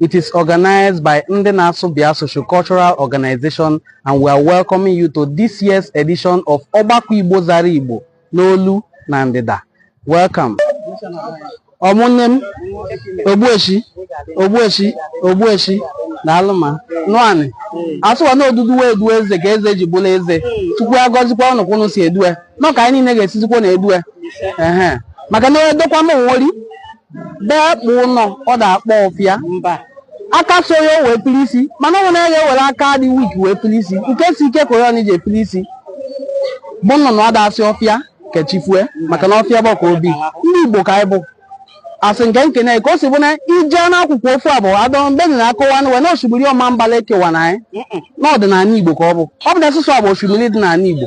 It is organized by Ndị Na-asụ Bịa Socio-Cultural Organization and we are welcoming you to this year's edition of Ọgbakọ Igbo Zara Igbo n'olu na ndịda. Welcome. Ụmụnne m Ogbueshi na alụma nwanyị asụwa na odudu wee edu eze ka eze ji bụlụ eze Chukwu agọzikwa ụnụ ka ụnụ si edue nọ ka anyị niile ga-esizikwa na-edue ehe maka na edokwa m nwori bee kpụ ụnọ ọ da-akpọ ọfịa mba aka so ya o wee pili isi mana ọ nwere ya ewere aka dị weak wee pili isi nke si ike ka onye ji epili isi bụ nnụnụ ọ da-asị ọfịa kechifue maka na ọfịa bụ ka obi ndị igbo ka anyị bụ asị nke nkene ka o si bụ na ije n'akụkọ ofu a bụ adọmbeni na akọwa na wena osimiri ọmambala ekewana anyị n'ọdịnala igbo ka ọ bụ ọ bụ na asụsụ a bụ osimiri dị n'ala igbo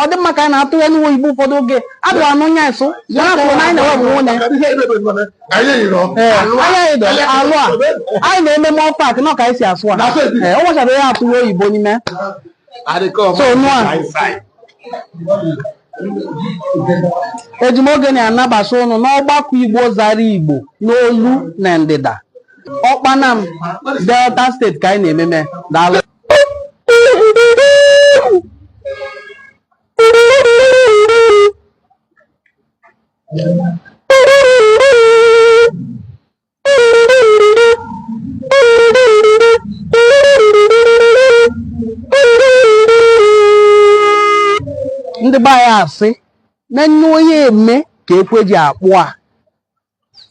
ọ dị mma ka anyị na-atụ inu igbo ụfọdụ oge adụ anụ nya nso ya na kwuru na anyị na-enwe onwe onye anya edo alụ a anyị na-eme mọ pak na ka anyị si asụ a o nwechara ya atụ oyibo n'ime so nụ a eji m oge nị anabata ụnụ n'ọgbakọ igbo zara igbo n'olu na ndịda okpanam delta state ka anyị na-ememe daalụ ndị be anyị asị na nne onye eme ka ekwe ji akpụ a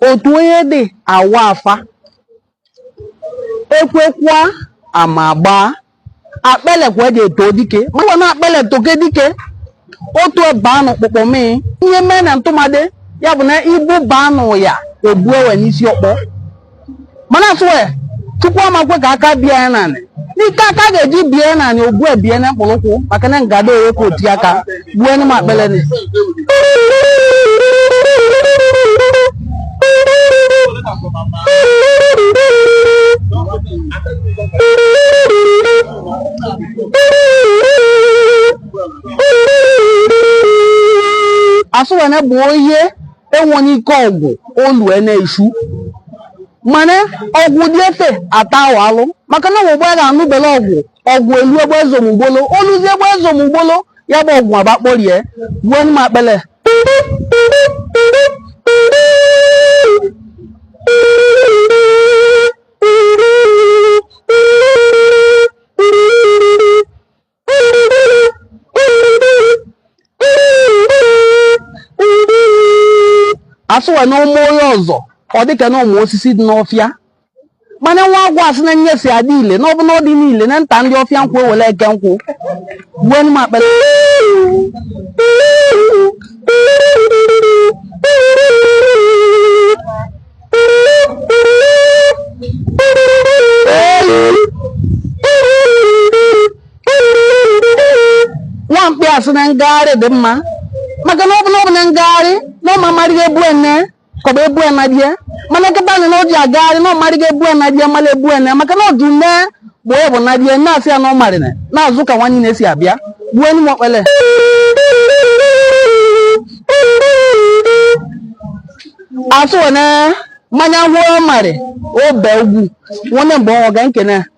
otu onye dị awa afa ekwekwa ama gbaa akpele kwa eji eto dike maka na akpele toke dike otu ebe anụ kpụkpọ mee ihe mee na ntụmadị ya bụ na ibu ba anụ ya ebu ewe n'isi ọkpọ mana asụwe chukwu amakwe ka aka bie ya naanị n'ike aka ga-eji bie ya naanị ogbu ebie na mkpụrụ ụkwụ maka na ngada ewe ka oti aka gbuo enyi m akpele ni asụ wee na-ebu ihe enwere ike ọgwụ olue na-echu mana ọgwụ dị efe ata ahụ alụ maka na ọgbụgba ya ga-anụbele ọgwụ ọgwụ elu egbe ezomugbolo oluzi egbe ezomugbolo ya bụ ọgwụ agbakporie gbuo m akpele asụwa na ụmụ onye ọzọ ọ dịka na ụmụ osisi dị n'ọfịa mana nwa agwọ asị na nye si adị ile n'ọbụ na ọ dị niile na nta ndị ọfịa nkụ ewele e kee nkụ gbuo nụ m akpele nwa mkpi asị na ngagharị dị mma maka na ọ bụ na ọ bụ na ngagharị na ọ ma amarịghị egbu ene ka ọ bụ egbu ena die mana kịta na ọ ji agagharị na ọ marịghị egbu ena die mara egbu ene maka na ọdụ nne bụ ọ bụ na die na-asị ya na ọ marịrị na-azụ ka nwanne na-esi abịa gbuo nụ m akpele asụwa na mmanya hụọ mari obe ugwu nwanne mgbe ọnwa ga nkene